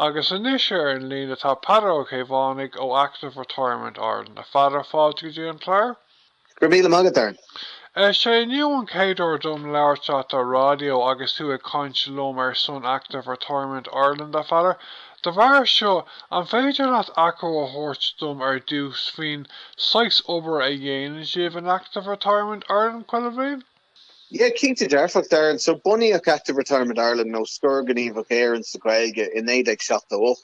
Agus anois ar an líne tá Peadar Ó Caomhánaigh ó Active Retirement Ireland. A Pheadair, fáilte go dtí an clár. Go raibh míle maith agat, Darren. Is é inniu an chéad uair dom labhairt leat ar raidió agus tú ag caint liom ar son Active Retirement Ireland, a Pheadair. De bharr seo, an féidir leat achoimre a thabhairt dom ar dtús faoin saghas obair a dhéanann sibh in Active Retirement Ireland chuile bhliain? Yeah, cinnte dearfach, Darren. So, bunaíodh Active Retirement Ireland, nó Scor Gníomhach Éireann sa Ghaeilge, in 1978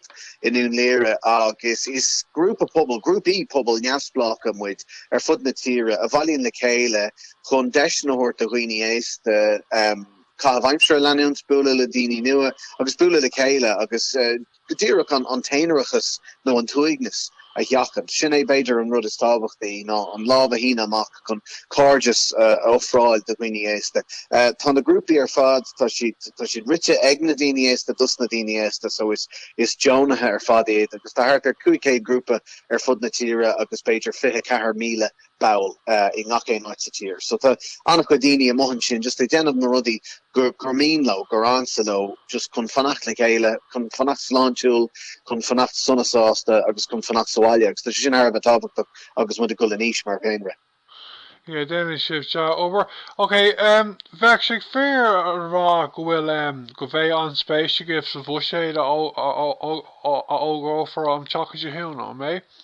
i nDún Laoghaire agus is grúpa pobail, grúpaí pobail neamhspleácha muid ar fud na tíre a bhailíonn le chéile chun deiseanna a thabhairt do dhaoine aosta um, caitheamh aimsire a leanúint, bualadh le daoine nua agus bualadh le chéile agus, uh, go díreach, an t-aonarachas nó an t-uaigneas a sheachaint. Sin é b'fhéidir an rud is tábhachtaí, ná an lámh a shíneadh amach chun cairdeas a ofráil do dhaoine aosta. Tá na grúpaí ar fad, tá siad, tá siad rite ag na daoine aosta, dos na daoine aosta, so is, is deonaithe ar fad iad agus tá thart ar 500 grúpa ar fud na tíre agus b'fhéidir 24,000 ball i ngach aon áit sa tír. So tá an-chuid daoine amuigh ansin just ag déanamh na rudaí gur gur mian leo, gur ansa leo just chun fanacht le chéile, chun fanacht sláintiúil, chun fanacht sona sásta agus chun fanacht sa bhaile agus tá sé sin thar a bheith tábhachtach agus muid ag dul in aois mar dhaonra. Yeah, déanann sibh dea-obair. Ok, em, bheadh sé féaráilte a rá go bhfuil, em, go bheidh an-spéis agaibh sa bhuiséad a fhógrófar an tseachtain seo chugainn, nach mbeidh?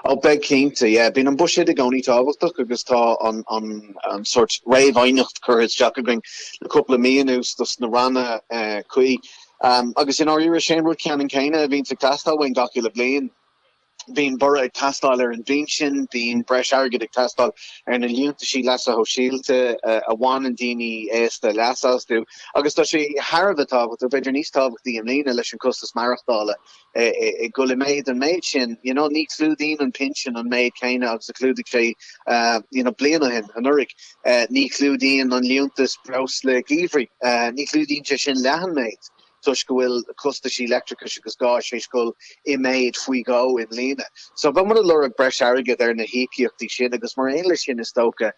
Oh beidh cinnte. Yeah. Bíonn an buiséad i gcónaí tábhachtach agus tá an an an sórt réamhaighneacht curtha isteach againn le cúpla mí anuas dos na ranna cuí. Agus i ndáiríre sé'n rud ceannan céanna a bhíonns ag teastáil uainn gach uile bhliain. Bíonn borradh ag teastáil ar an bpinsean, bíonn breis airgid ag teastáil ar na liúntaisí leasa shóisialta a bhaineann daoine aosta leas astu agus tá sé thar a bheith tábhachtach, b'fhéidir níos tábhachtaí i mbliana leis an costas maireachtála. ag dul i méid an méid sin you know ní chlúdaíonn an pinsean an méid céanna agus a chlúdaigh sé you know bliain ó shin anuraidh. Ní chlúdaíonn an liúntas breosla geimhridh, ní chlúdaíonn sé sin leath an méid toisc go bhfuil costaisí leictreachais agus gáis théis dhul i méid faoi dhó i mbliana. So táimid ag lorg breis airgid ar na híocaíochtaí sin agus mar aon leis sin is dócha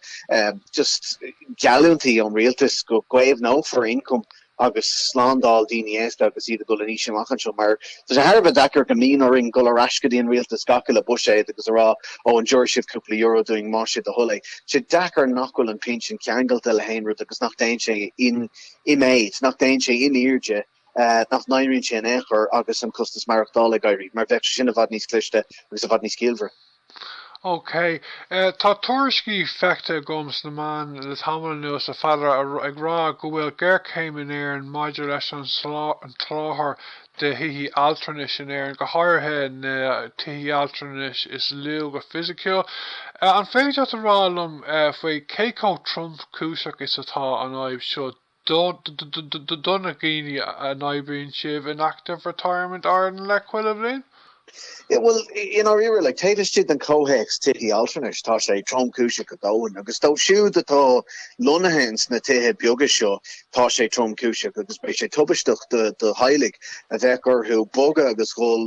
just geallúintí ón rialtas go gcaomhnófar ioncam agus slándáil daoine aosta agus iad ag dul in aois amach anseo, mar tá sé thar a bheith deacair go mbíonn orainn dul ar ais go dtí an rialtas gach uile buiséad agus a rá, ó, an dtiúrfaidh sibh cúpla euro dúinn más é do thoil é? Tá sé deacair nach bhfuil an pinsean ceangailte le haon rud agus nach dtéann sé in i méid, nach dtéann sé in airde, nach n-éiríonn sé in aon chor agus an costas maireachtála ag éirí, mar bheadh sé sin i bhfad níos cliste agus i bhfad níos ciallmhaire. OK. Tá tuairiscí feicthe agam sna meáin le tamall anuas, a Pheadair, ag rá go bhfuil géarchéim in Éirinn maidir leis an soláthar de thithí altranais in Éirinn, go háirithe na tithí altranais is lú go fisiciúil. An féidir leat a rá liom faoi cé chomh tromchúiseach is atá an fhadhb seo do na daoine a n-oibríonn sibh leo in Active Retirement Ireland le cúpla bliain? Yeah, bhuel, i ndáiríre, taobh istigh den chomhthéacs tithe altranais, tá sé tromchúiseach go domhain, agus dóibh siúd atá lonnaithe ins na tithe beaga seo, tá sé tromchúiseach, agus beidh sé tubaisteach do theaghlaigh a bheadh orthu bogadh agus dhul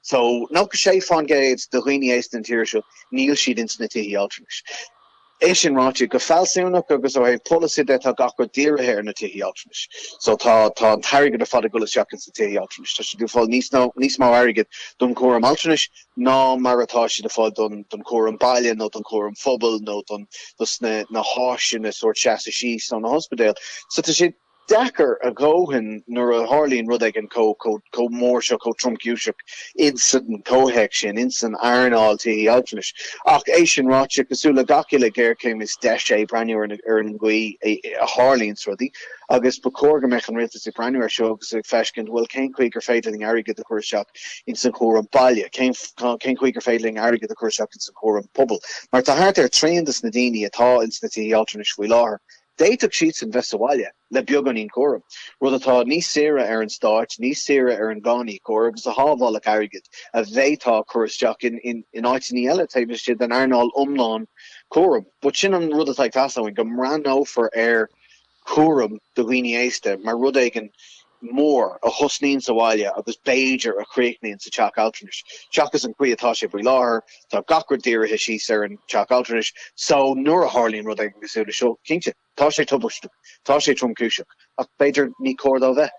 So, nócha sé fán gcéad de dhaoine aosta na tíre seo, níl siad ins na tithí altranais. É sin ráite, go fealsúnach agus ó thaobh polasaithe de, tá gach rud dírithe ar na tithí altranais. So, tá tá an t-airgead ar fad ag dul isteach ins na tithí altranais. Tá siad ag fáil i bhfad níos mó airgid don chúram altranais ná mar atá siad ag fáil don don chúram baile nó don chúram pobail nó don dos na na háiseanna sórt seasamh síos nó na hospidéil. So, tá sé deacair a dhóthain nuair a tharlaíonn rud éigin chomh chomh mór seo, chomh tromchúiseach ins an chomhthéacs sin, ins an earnáil tithí altranais. Ach é sin ráite, cosúil le gach uile ghéarchéim is deis é breathnú ar an gcaoi a tharlaíonns rudaí agus ba chóir go mbeadh an Rialtas ag breathnú air seo agus ag feiscint, bhuel, cén chaoi gur féidir linn airgead a chur isteach ins an chúram baile, cén chaoi gur féidir linn airgead a chur isteach ins an chúram pobail. Mar tá thart ar thrian de sna daoine atá ins na tithí altranais faoi láthair, D'fhéadfadh siadsan bheith sa bhaile le beagáinín cúraim, rud atá níos saoire ar an stát, níos saoire ar an gcáiníocóir agus a shábhálfadh airgead a bhféadfá a chur isteach in áiteanna eile taobh istigh den earnáil iomlán cúraim. But sin an rud atá ag teastáil uainn, go mbreathnófar ar chúram do dhaoine aosta mar rud éigin mór a thosnaíonn sa bhaile agus b'fhéidir a chríochnaíonn sa teach altranais, seachas an chaoi atá sé faoi láthair, tá gach rud dírithe síos ar an teach altranais, só nuair a tharlaíonn rud éigin cosúil le seo, cinnte, tá sé tubaisteach, tá sé tromchúiseach, ach b'fhéidir ní cóir dó bheith.